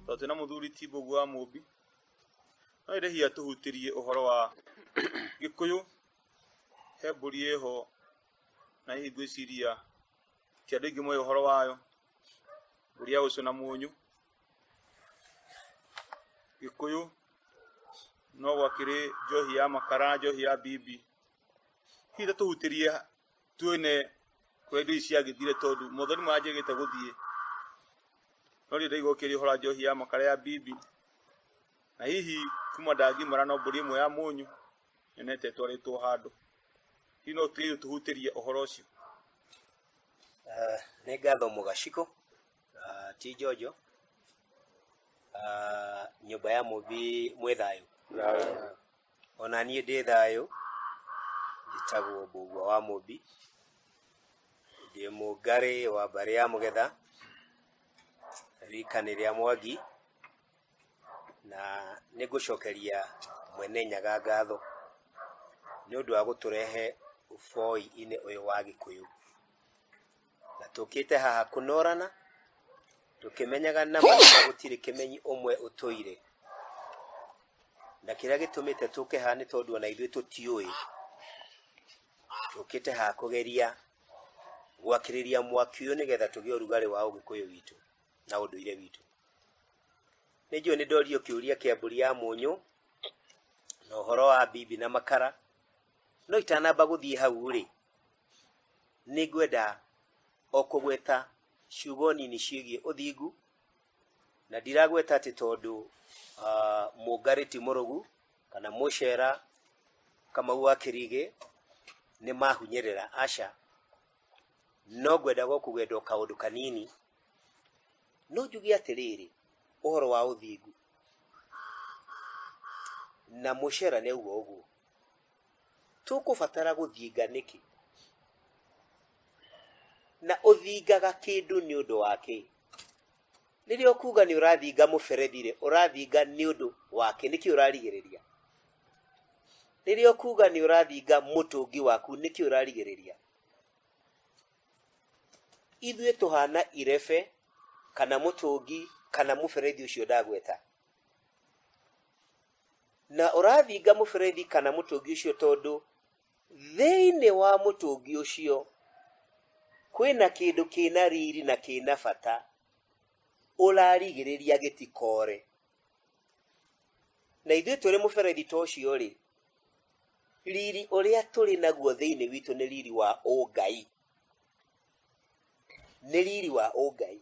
tondũ twĩna mũthuri ti mbũgu wa mũmbi no ĩrĩ hihi atũhutĩrie ũhoro wa gĩkũyũ he mbũri ĩho na hihi ngwĩciria ti andũ aingĩ moĩ ũhoro wayo mbũri ya ũcũ na mũnyũ gĩkũyũ no gwakĩrĩ njohi ya makara njohi ya bibi hihi ta tũhutĩrie tuone kũrĩa indo ici ciagĩthire tondũ mothoni maranjĩgĩte gũthiĩ no rĩu ndaigua ũkĩrĩ ũhora njohi ya makara ya bibi na hihi kuma ndangimara no mbũri ĩmwe ya mũnyũ nyonete ĩtwarĩtwo handũ hihi no tũthiĩ tũhutĩrie ũhoro ũcio Eh, nĩ ngatho mũgaciko Ah, ti njonjo Ah, nyũmba ya mũmbi mwĩ thayũ Thayũ. ona niĩ ndĩ thayũ njĩtagwo mbũgua wa mũmbi ndĩ mũngarĩ wa mbarĩ ya mũgetha rikanĩ rĩa mwangi na nĩ ngũcokeria mwene nyaga ngatho nĩ ũndũ wa gũtũrehe ũboi-inĩ ũyũ wa gĩkũyũ na tũkĩte haha kũnorana tũkĩmenyaga na maitho gũtirĩ kĩmenyi ũmwe ũtũire na kĩrĩa gĩtũmĩte tũke haha nĩ tondũ ona ithuĩ tũtiũĩ tũkĩte haha kũgeria gwakĩrĩria mwaki ũyũ nĩgetha tũgĩe ũrugarĩ wa ũgĩkũyũ witũ na ũndũire witũ nĩ njũĩ nĩ ndorio kĩũria kĩa mbũri ya mũnyũ na ũhoro wa bibi na makara no itanamba gũthiĩ hau rĩ nĩ ngwenda o kũgweta ciugo nini ciĩgiĩ ũthingu na ndiragweta atĩ tondũ ah, mũngarĩ ti mũrũgu kana mũcera kamau wa kĩrigĩ nĩ mahunyĩrĩra aca no ngwendaga o kũgwenda o kaũndũ kanini no njuge atĩrĩrĩ ũhoro wa ũthingu na mũcera nĩ auga ũguo tũkũbatara gũthinga nĩkĩ na ũthingaga kĩndũ nĩ ũndũ wa kĩ rĩrĩa ũkuga nĩ ũrathinga mũberethi rĩ ũrathinga nĩ ũndũ wake nĩkĩ ũrarigĩrĩria rĩrĩa ũkuga nĩ ũrathinga mũtũngi waku nĩkĩ ũrarigĩrĩria ithuĩ tũhana irebe kana mũtũngi kana mũberethi ũcio ndagweta na ũrathinga mũberethi kana mũtũngi ũcio tondũ thĩinĩ wa mũtũngi ũcio kwĩna kĩndũ kĩna riri na kĩna bata ũrarigĩrĩria gĩtikore. Na ithuĩ tũrĩ mũberethi ta ũcio rĩ, riri ũrĩa tũrĩ naguo thĩinĩ witũ nĩ riri wa ũngai, nĩ riri wa ũngai.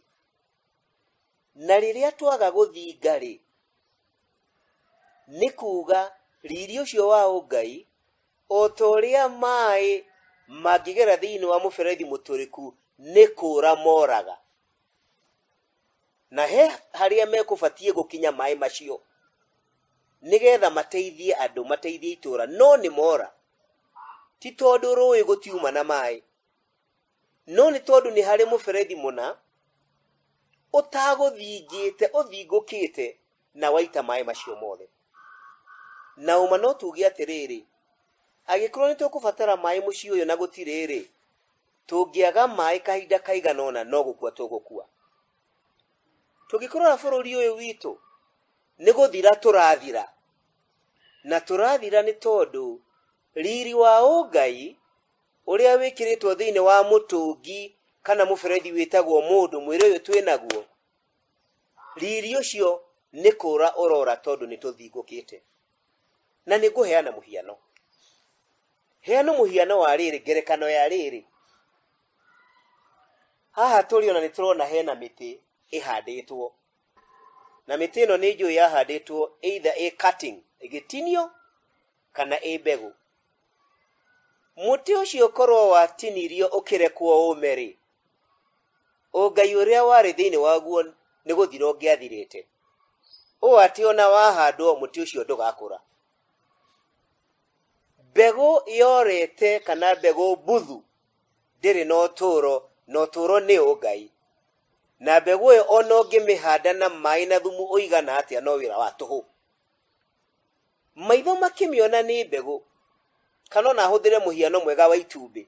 na rĩrĩa twaga gũthinga-rĩ nĩ kuuga riri ũcio wa ũngai o ta ũrĩa maĩ mangĩgera thĩinĩ wa mũberethi mũtũrĩku nĩ kũũra moraga na he harĩa mekũbatiĩ gũkinya maĩ macio nĩgetha mateithie andũ mateithie itũũra no nĩ mora ti tondũ rũĩ gũtiuma na maĩ no nĩ tondũ nĩ harĩ mũberethi mũna ũtagũthingĩte ũthingũkĩte na waita maĩ macio mothe na ũma no tuge atĩrĩrĩ agĩkorwo nĩ tũkũbatara maĩ mũciĩ ũyũ na gũtirĩ rĩ tũngĩaga maĩ kahinda kaigana ũna no gũkua tũgũkua tũngĩkorora bũrũri ũyũ witũ nĩ gũthira tũrathira na tũrathira nĩ tondũ riri wa ũngai ũrĩa wĩkĩrĩtwo thĩinĩ wa mũtũngi kana mũberethi wĩtagwo mũndũ mwĩrĩ ũyũ twĩ naguo riri ũcio nĩ kũra ũrora tondũ nĩ tũthingũkĩte na nĩ ngũheana mũhiano heana mũhiano wa rĩrĩ ngerekano ya rĩrĩ haha tũrĩ ona nĩ tũrona hena mĩtĩ ĩhandĩtwo na mĩtĩ ĩno nĩ njũĩ yahandĩtwo either ĩ cutting ĩgĩtinio kana ĩ mbegũ. Mũtĩ ũcio korwo watinirio ũkĩrekwo ũme-rĩ, ũngai ũrĩa warĩ thĩinĩ waguo nĩ gũthira ũngĩathirĩte, ũũ atĩ ona wahandwo mũtĩ ũcio ndũgakũra. Mbegũ yorete kana mbegũ mbuthu ndĩrĩ na ũtũũro, na ũtũũro nĩ ũngai. Na mbegũ ĩyo ona ũngĩmĩhanda na maĩ na thumu ũigana atĩa no wĩra wa tũhũ. Maitho makĩmĩona nĩ mbegũ, kana ona hũthĩre mũhiano mwega wa itumbĩ.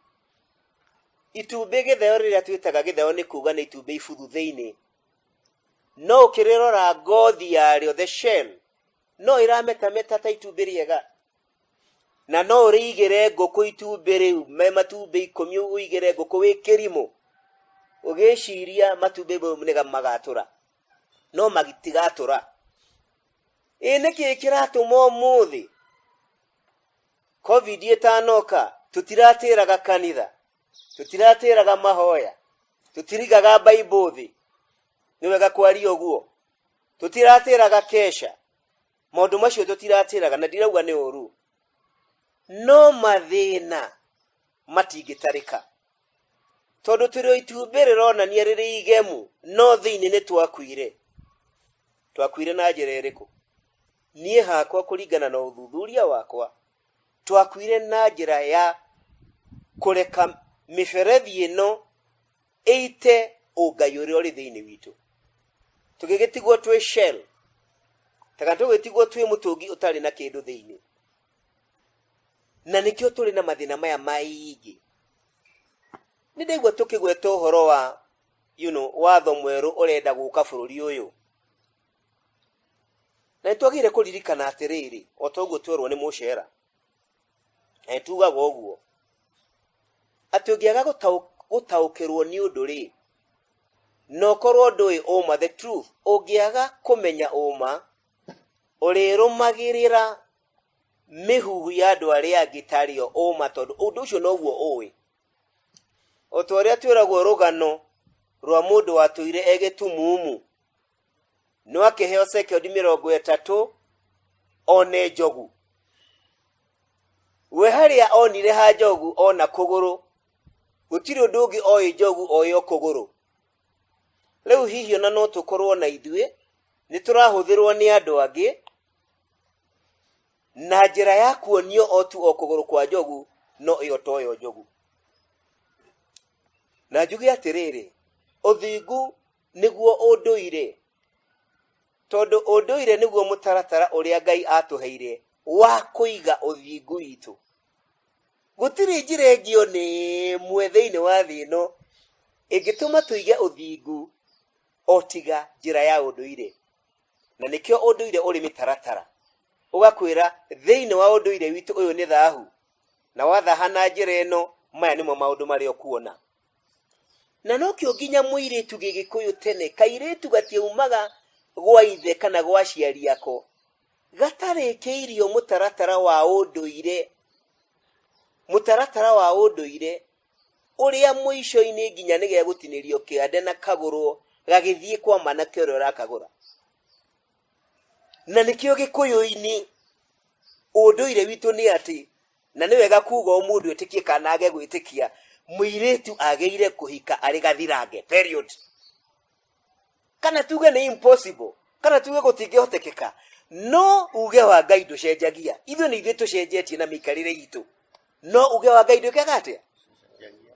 Itumbĩ gĩtheo rĩrĩa twĩtaga gĩtheo nĩ kuga nĩ itumbĩ ibuthu thĩinĩ. No ũkĩrĩrora ngothi yarĩo, the shell, no ĩrametameta ta itumbĩ rĩega. Na no ũrĩigĩre ngũkũ itumbĩ rĩu, me matumbĩ ikũmi ũigĩre ngũkũ wĩ kĩrimũ, ũgĩciria matumbĩ mau nĩ magatũra. no magitigatũra ĩ nĩ kĩĩ kĩratũma ũmũthĩ covid ĩtanoka tũtiratĩraga kanitha tũtiratĩraga mahoya tũtirigaga baibũ thĩ nĩ wega kwaria ũguo tũtiratĩraga kesha maũndũ macio tũtiratĩraga na ndirauga nĩ ũru no mathĩna matingĩtarĩka tondũ tũrĩ o itumbĩ rĩronania rĩrĩ igemu no thĩinĩ nĩ twakuire twakuire na njĩra ĩrĩkũ niĩ hakwa kũringana na ũthuthuria wakwa twakuire na njĩra ya kũreka mĩberethi ĩno ĩite ũngai ũrĩa ũrĩ thĩinĩ witũ tũgĩgĩtigwo twĩ shell taka tũgĩtigwo twĩ mũtũngi ũtarĩ na kĩndũ thĩinĩ na nĩkĩo tũrĩ na mathĩna maya maingĩ nĩ ndaigua tũkĩgweta ũhoro wa you know, watho mwerũ ũrenda gũka bũrũri ũyũ na nĩ twagĩrĩire kũririkana atĩrĩrĩ o ta ũguo twerwo nĩ mũcera na nĩ tugaga ũguo atĩ ũngĩaga gũtaũ- gũtaũkĩrwo nĩ ũndũ rĩ na ũkorwo ndũĩ ũma the truth ũngĩaga kũmenya ũma ũrĩrũmagĩrĩra mĩhuhu ya andũ arĩa angĩ tarĩo ũma tondũ ũndũ ũcio noguo ũĩ o ta ũrĩa twĩragwo rũgano rwa mũndũ watũire e gĩtumumu no akĩheo sekondi mĩrongo ĩtatũ one njogu we harĩa onire ha njogu ona kũgũrũ gũtirĩ ũndũ ũngĩ oĩ njogu oĩ o kũgũrũ rĩu hihi ona no tũkorwo na ithuĩ nĩ tũrahũthĩrwo nĩ andũ angĩ na njĩra ya kuonio o tu o kũgũrũ kwa njogu no ĩyo toyo njogu na njuge atĩrĩrĩ ũthingu nĩguo ũndũire tondũ ũndũire nĩguo mũtaratara ũrĩa ngai atũheire wa kũiga ũthingu witũ gũtirĩ njĩra ĩngĩ o nĩ ĩmwe thĩinĩ wa thĩ ĩno ĩngĩtũma tũige ũthingu o tiga njĩra ya ũndũire na nĩkĩo ũndũire ũrĩ mĩtaratara ũgakwĩra thĩinĩ wa ũndũire witũ ũyũ nĩ thahu na wathaha na njĩra ĩno maya nĩmo maũndũ marĩa ũkuona na nokĩo nginya mũirĩtu gĩgĩkũyũ tene kairĩtu gatiaumaga gwa ithe kana gwa aciari ako gatarĩkĩirio mũtaratara wa ũndũire mũtaratara wa ũndũire ũrĩa mũico-inĩ nginya nĩ gegũtinĩrio kĩande na kagũrwo gagĩthiĩ kwa mwanake ũrĩa ũrakagũra na nĩkĩo gĩkũyũ-inĩ ũndũire witũ nĩ atĩ na nĩ wega kuga o mũndũ etĩkie kana age gwĩtĩkia mũirĩtu agĩire kũhika arĩ gathirange period kana tuge nĩ impossible kana tuge gũtingĩhotekeka no uge wa ngai ndũcenjagia ithuĩ nĩ ithuĩ tũcenjetie na mĩikarĩre itũ no uge wa ngai ndwĩkaga atĩa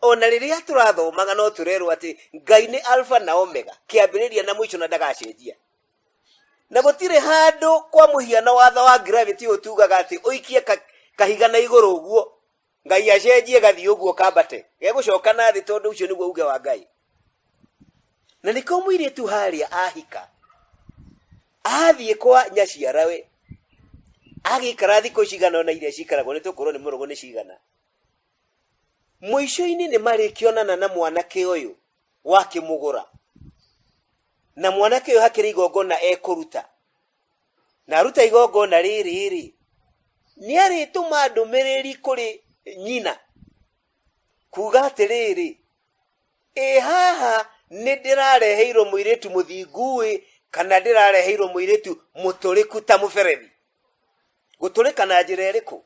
ona rĩrĩa tũrathomaga no tũrerwo atĩ ngai nĩ alfa na omega kĩambĩrĩria na mũico na ndagacenjia na gũtirĩ handũ kwa mũhiano watho wa gravity ũtugaga atĩ ũikie ka- kahiga na igũrũ ũguo ngai acenjie gathiĩ ũguo kambate gegũcoka na thĩ tondũ ũcio nĩguo uge wa ngai na nĩko mũirĩtu harĩa ahika athiĩ kwa nyaciarawe agĩikara thikũ cigana ona iria cikaragwo nĩ tũkorwo nĩ mũrũgũ nĩ cigana mũico-inĩ nĩ marĩkĩonana na mwanake ũyũ wakĩmũgũra na mwanake ũyũ hakĩrĩ igongona ekũruta na aruta igongona rĩrĩ-rĩ nĩ arĩtũma ndũmĩrĩri kũrĩ nyina kuga atĩrĩrĩ ĩ haha nĩ ndĩrareheirwo mũirĩtu mũthinguĩ kana ndĩrareheirwo mũirĩtu mũtũrĩku ta mũberethi gũtũrĩka na njĩra ĩrĩkũ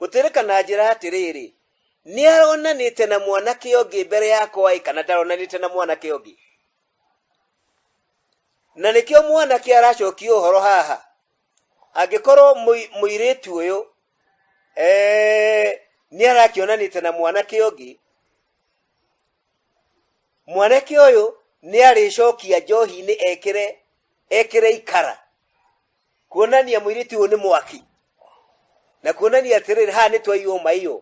gũtũrĩka na njĩra atĩrĩrĩ nĩ aronanĩte na mwanake ũngĩ mbere yakwa ĩ kana ndaronanĩte na mwanake ũngĩ na nĩkĩo mwanake aracokia ũhoro haha angĩkorwo mũi- mũirĩtu ũyũ eh, nĩ arakĩonanĩte na mwanake ũngĩ mwanake ũyũ nĩ arĩcokia njohi-inĩ ekĩre ekĩre ikara kuonania mwĩirĩtu ũyũ nĩ mwaki na kuonania atĩrĩrĩ haha nĩ twaiywo maiyũ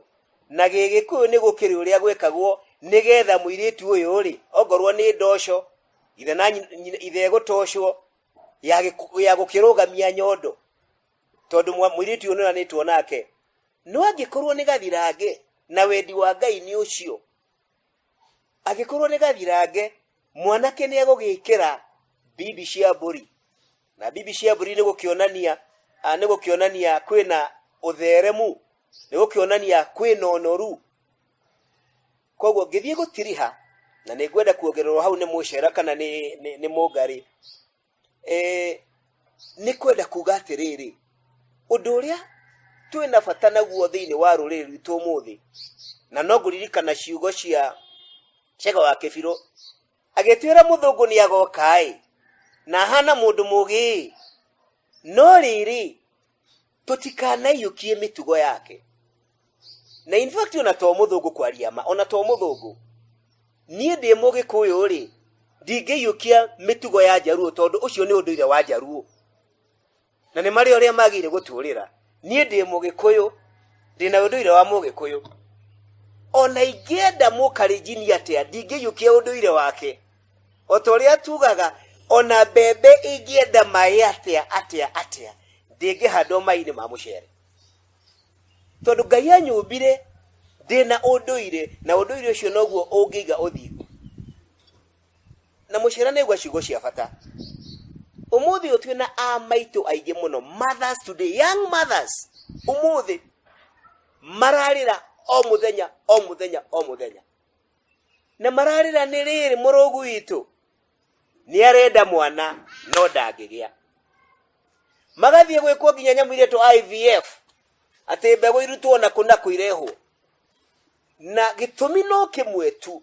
na gĩgĩkũyũ nĩ gũkĩrĩ ũrĩa gwĩkagwo nĩgetha mwĩirĩtu ũyũ rĩ ongorwo nĩ ndoco ithe na nyi- nyina- ithe gũtocwo ya gĩkũ- ya gũkĩrũgamia nyondo tondũ mwa- mwĩirĩtu ũyũ nĩonanĩtwo nake no angĩkorwo nĩ gathirange na wendi wa ngai nĩ ũcio angĩkorwo nĩ gathirange mwanake nĩ egũgĩkĩra bibi cia mbũri na bibi ciambũri nĩ gũkĩonania ah, nĩ gũkĩonania kwĩna ũtheremu nĩ gũkĩonania kwĩna ũnoru koguo ngĩthiĩ gũtiriha na nĩ ngwenda kuongererwo hau nĩ mũcera kana nĩ nĩ- nĩ mũngarĩ Eh, nĩ kwenda kuga atĩrĩrĩ ũndũ ũrĩa twĩ na bata naguo thĩinĩ wa rũrĩrĩ rwitũ ũmũthĩ na no ngũririkana ciugo cia cega wa kĩbirũ Agĩtwĩra mũthũngũ nĩ agoka-ĩ, na ahaana mũndũ mũũgĩ-ĩ, no rĩrĩ, tũtikanaiyũkie mĩtugo yake. Na in fact ona to mũthũngũ kwaria ma, ona to mũthũngũ. Niĩ ndĩ mũgĩkũyũ-rĩ, ndingĩiyũkia mĩtugo ya Njaruo tondũ ũcio nĩ ũndũire wa Njaruo. na nĩ marĩ ũrĩa magĩire gũtũũrĩra niĩ ndĩ mũgĩkũyũ ndĩ na ũndũire wa mũgĩkũyũ ona ingĩenda mũkarinjini atĩa ndingĩiyũkia ũndũire wake o ta ũrĩa tugaga ona mbembe ingĩenda maĩ atĩa atĩa atĩa ndĩngĩhandwo maĩ-inĩ ma mũcere tondũ ngai anyũmbire ndĩ na ũndũire na ũndũire ũcio noguo ũngĩiga ũthingu na mũciara nĩ aigua ciugo cia bata umuthi uyu twina a maitu aingi muno mothers today young mothers umuthi mararira o muthenya o muthenya o muthenya na mararira ni riri murugu witu ni arenda mwana no ndangigia magathie gwikwo nginya nyamu iria to IVF ati mbegu irutwo na kuna kuirehwo na gitumi no kimwe tu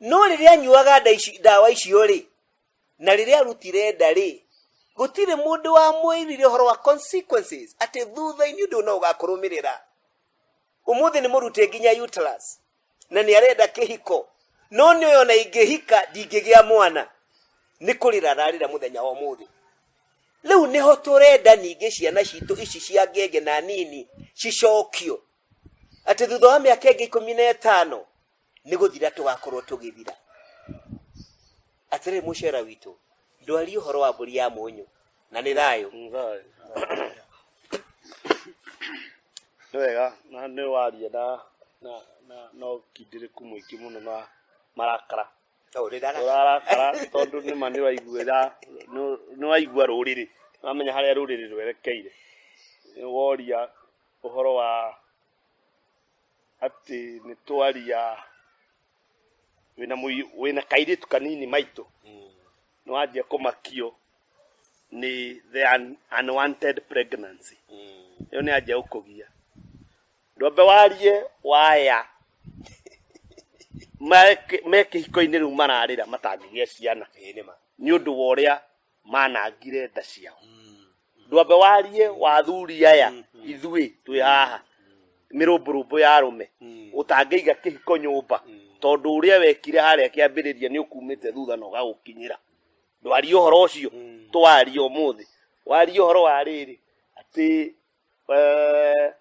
no rĩrĩa anyuaga nda ici- ndawa icio-rĩ na rĩrĩa arutire nda-rĩ gũtirĩ mũndũ wamwĩrire ũhoro wa consequences atĩ thutha-inĩ ũndũ no ũgakũrũmĩrĩra ũmũthĩ nĩ mũrute nginya uterus na nĩ arenda kĩhiko no nĩ ona ingĩhika ndingĩgĩa mwana nĩ kũrĩra ararĩra mũthenya wa ũmũthĩ rĩu nĩho tũrenda ningĩ ciana citũ ici cia ngenge na nini cicokio atĩ thutha wa mĩaka ĩngĩ ikũmi na ĩtano nĩ gũthira tũgakorwo tũgĩthira atĩrĩ mũcera witũ ndwari ũhoro wa mbũri ya mũnyũ na nĩ thayũ nĩ wega na nĩ waria na na na na ũkindĩrĩku mũingĩ mũno na marakara Ũũ, nĩ ndara- ũrarakara tondũ nĩma nĩ waiguĩra nĩ- nĩ waigua rũrĩrĩ ũramenya harĩa rũrĩrĩ rwerekeire Nĩ woria ũhoro wa atĩ nĩ twaria wĩna mũi- wĩna kairĩtu kanini maitũ nĩ wanjia kũmakio nĩ the un- unwanted pregnancy ĩyo nĩ anjia gũkũgia ndwambe warie waya Mareke- me kĩhiko-inĩ rĩu mararĩra matangĩgĩa ciana nĩ ũndũ wa ũrĩa manangire nda ciao ndwambe warie wathuri aya ithuĩ twĩ haha mĩrũmbũrũmbũ ya arũme ũtangĩiga kĩhiko nyũmba tondũ ũrĩa wekire harĩa kĩambĩrĩria nĩ ũkumĩte thutha na ũgagũkinyĩra ndwarie ũhoro ũcio twarie ũmũthĩ warie ũhoro wa rĩrĩ atĩ Eh,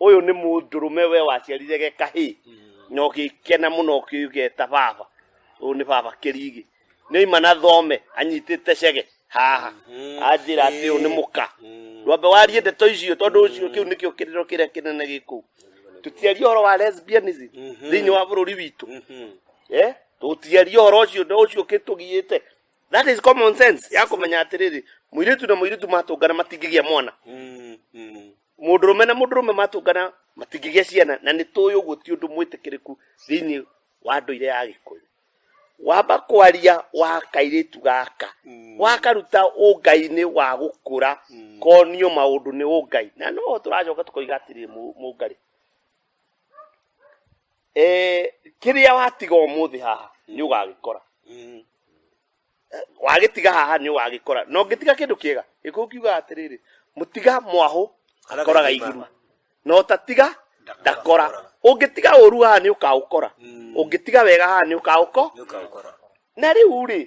ũyũ nĩ mũndũrũme we waciarire ge kahĩ na ũgĩkena mũno ũkĩgeta baba ũyũ nĩ baba kĩrigi nĩ ima na thome anyitĩte cege haha anjĩra atĩ ũyũ nĩ mũka ndwambe warie ndeto icio tondũ ũcio kĩu nĩkĩo kĩrĩro kĩrĩa kĩnene gĩkũu tũtiarie ũhoro wa lesbianism thĩinĩ wa bũrũri witũ Eh, tũtiarie ũhoro ũcio na ũcio ũkĩtũgiĩte that is common sense ya kũmenya atĩrĩrĩ mũirĩtu na mũirĩtu matũngana matingĩgĩa mwana Mm, mm. mũndũrũme na mũndũrũme matũngana matingĩgĩa ciana na nĩ tũĩ ũguo ti ũndũ mwĩtĩkĩrĩku thĩinĩ wa ndũire ya gĩkũyũ wamba kwaria wa kairĩtu gaka Mm. wakaruta ũngai-inĩ wa gũkũra Mm. konio maũndũ nĩ ũngai na no tũracoka tũkoiga atĩrĩ mũngarĩ Eh, kĩrĩa watiga ũmũthĩ haha nĩ ũgagĩkora Mm. Eh, wagĩtiga haha nĩ ũgagĩkora na ũngĩtiga kĩndũ kĩega gĩkũyũ kiugaga atĩrĩrĩ mũtiga mwahũ akoraga iguru na ũtatiga ndakora ũngĩtiga ũru haha nĩ ũkaũkora Mm. ũngĩtiga wega haha nĩ ũkaũko Nĩũkaũkora. na rĩu rĩ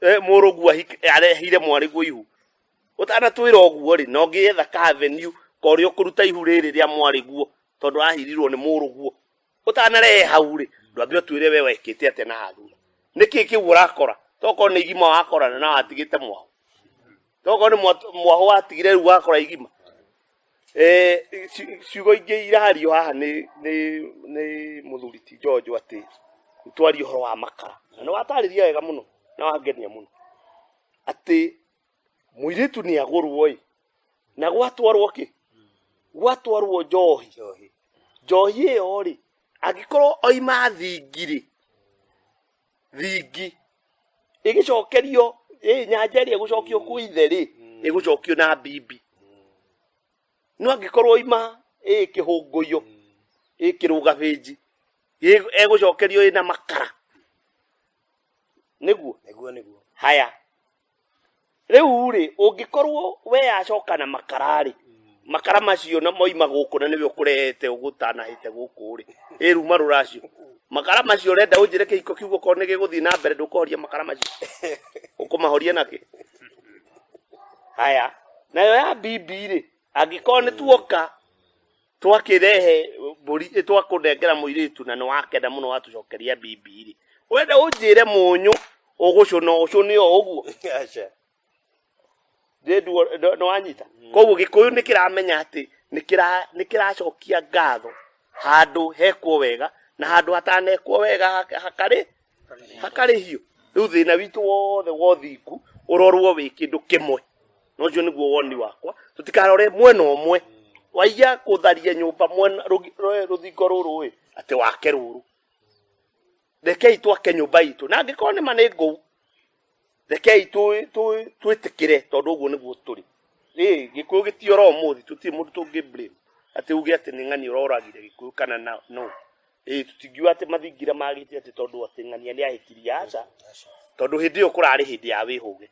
eh, mũrũguo ahik- arehire mwarĩguo ihu ũtanatwĩra ũguo rĩ no ngĩetha ka avenue korĩa ũkũruta ihu rĩrĩ rĩa mwarĩguo tondũ ahirirwo nĩ mũrũguo ũtanarehe hau rĩ ndwambe ũtwĩre we wekĩte atĩa na hathura nĩkĩ kĩu ũrakora tokorwo nĩ igima wakorana na watigĩte mwao tokorwo nĩ mwa- mwahũ watigire rĩu wakora igima Eh, ci- ciugo ingĩ irario haha nĩ nĩ nĩ mũthuri ti njonjo atĩ twarie ũhoro wa makara na nĩ watarĩria wega mũno na wangenia mũno atĩ mũirĩtu nĩ agũrwo ĩ na gwatwarwo kĩ gwatwarwo njohi njohi ĩyo rĩ angĩkorwo oima thingirĩ thingi ĩgĩcokerio ĩ nyanja ĩrĩa ĩgũcokio kwĩ ithe rĩ ĩgũcokio na mbibi no angĩkorwo ima ĩ kĩhũngũio ĩ kĩrũgabĩnji ĩ- egũcokerio ĩ na makara nĩguo nĩguo nĩguo haya rĩu rĩ ũngĩkorwo we yacoka na makara rĩ makara macio na moima gũkũ na nĩwe ũkũrehete ũgũtanahĩte gũkũ rĩ ĩru marũ racio makara macio ũrenda ũnjĩre kĩhiko kiugo korwo nĩ gĩgũthiĩ na mbere ndũkũhoria makara macio ũkũmahoria nakĩ haya nayo ya bibi rĩ angĩkorwo nĩ tuoka twakĩrehe mbũri ĩ, twakũnengera mũirĩtu na nĩ wakenda mũno watũcokeria bibi rĩ wenda ũnjĩre mũnyũ ũgũcũna ũcũne o ũguo Aca. Ndĩnduo- ndo- nĩwanyita koguo gĩkũyũ nĩ kĩramenya atĩ nĩ kĩra- nĩ kĩracokia ngatho handũ hekwo wega na handũ hatanekwo wega hak- hakarĩ hakarĩhio rĩu thĩna witũ wothe wa ũthingu ũrorwo wĩ kĩndũ kĩmwe na ũcio nĩguo woni wakwa tũtikarore mwena ũmwe waiya kũtharia nyũmba mwena rũgi- rũ- rũthingo rũrũ ĩ atĩ wake rũrũ rekei twake nyũmba itũ na angĩkorwo nĩ ma nĩ ngũu rekei tũ- tũ- twĩtĩkĩre tondũ ũguo nĩguo tũrĩ Ĩ, gĩkũyũ gĩtiora ũmũthĩ tũtirĩ mũndũ tũngĩ blame atĩ uge atĩ nĩ ng'ani ũroragire gĩkũyũ kana na no Ĩ, tũtingiuga atĩ mathingira magĩte atĩ tondũ atĩ ng'ania nĩ ahĩkirie aca tondũ hĩndĩ ĩyo kũrarĩ hĩndĩ ya wĩhũge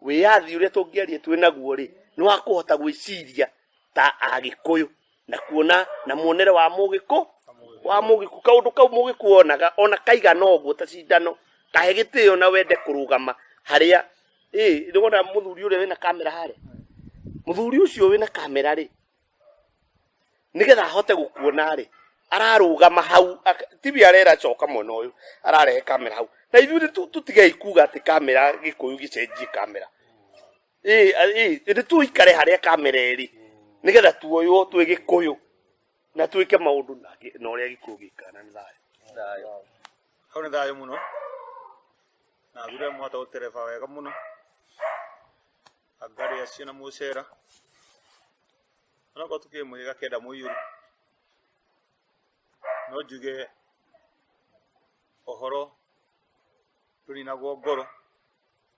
wĩyathi ũrĩa tũngĩaria twĩ naguo rĩ nĩ wa kũhota gwĩciria ta agĩkũyũ na kuona na muonere wa mugiko wa mugiku kaundu kau mugiku onaga ona kaigana uguo ta cindano kahe gitio na wende kurugama haria eh ni wona muthuri uria wina kamera hare muthuri ucio wina kamera ri nigetha ahote gukuona ri ararugama hau ak- tibi arera coka mwena uyu ararehe kamera hau na ithuĩ nĩ tu- tutigei kuga atĩ kamera gĩkũyũ gĩcenjie kamera ĩndĩ tũikare harĩa kamera ĩrĩ nĩgetha tuoywo twĩ gĩkũyũ na twĩke maũndũ na ũrĩa gĩkũyũ gĩkaga na nĩ thayũ hau nĩ thayũ mũno na thura mũhota gũtereba wega mũno angari acio na mũcera onakorwo tukĩrĩ mwĩga kenda mũiyũru no njuge ũhoro ndũninagwo ngoro